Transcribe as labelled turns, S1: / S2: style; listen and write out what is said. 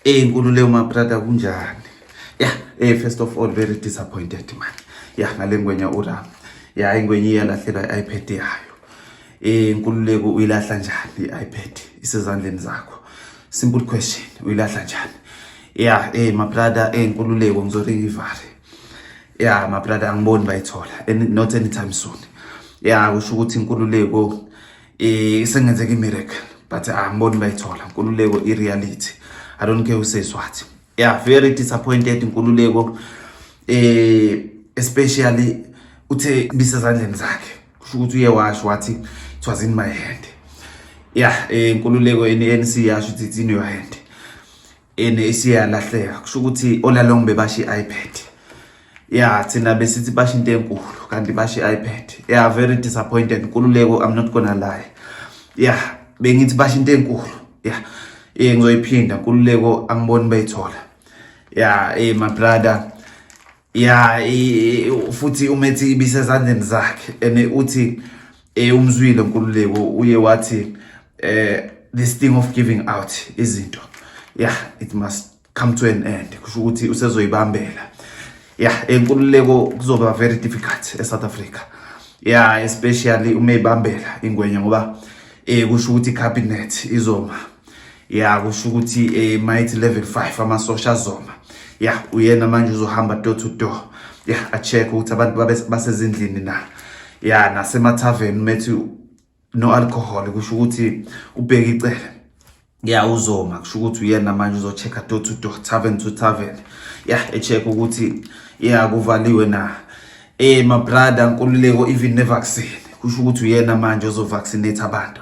S1: Eh nkulu leyo ma brother kunjani? Yeah, eh first of all very disappointed man. Yeah, ngalengwenya ura. Yeah, ingwenye iyalahlela iPad yayo. Eh nkululeko uyilahla njani iPad isezandleni zakho? Simple question, uyilahla njani? Yeah, eh ma brother eh nkululeko ngizorikivare. Yeah, ma brother angiboni bayithola. Not anytime soon. Yeah, kusho ukuthi inkululeko Eh sengenzeka imiracle but angiboni ah, bayithola inkululeko i reality. I don't care who says what. Yeah, very disappointed inkululeko eh especially uthe bisezandleni zakhe. Kusho ukuthi uye washo wathi it was in my hand. Yeah, eh inkululeko eNC yasho ukuthi it's in your hand. ene isiyalahleka kusho ukuthi olalong bebasha i-ipad ya thina besithi basha into enkulu kanti basha i-ipad ya very disappointed nkululeko i'm not gonna lie ya bengithi basha into enkulu ya eh ngizoyiphinda nkululeko angiboni bayithola ya eh my brother ya futhi umethi ibisezandleni zakhe and uthi eh, umzwile nkululeko uye wathi eh this thing of giving out izinto yeah it must come to an end kusho ukuthi usezoyibambela yeah enkululeko kuzoba very difficult eSouth Africa yeah especially uma ibambela ingwenya ngoba eh kusho ukuthi cabinet izoma ya kusho ukuthi um eh, mayithi level five amasosha azoma ya uyena manje uzohamba door to door ya acheck ukuthi abantu basezindlini na ya nasemathaveni methi no alcohol kusho ukuthi ubheke icele ya uzoma kusho ukuthi uyena manje uzochecka door to door tavern to tavern ya echeck ukuthi ya kuvaliwe na eh mabrada nkululeko even nevaccine kusho ukuthi uyena manje ozovaccinate abantu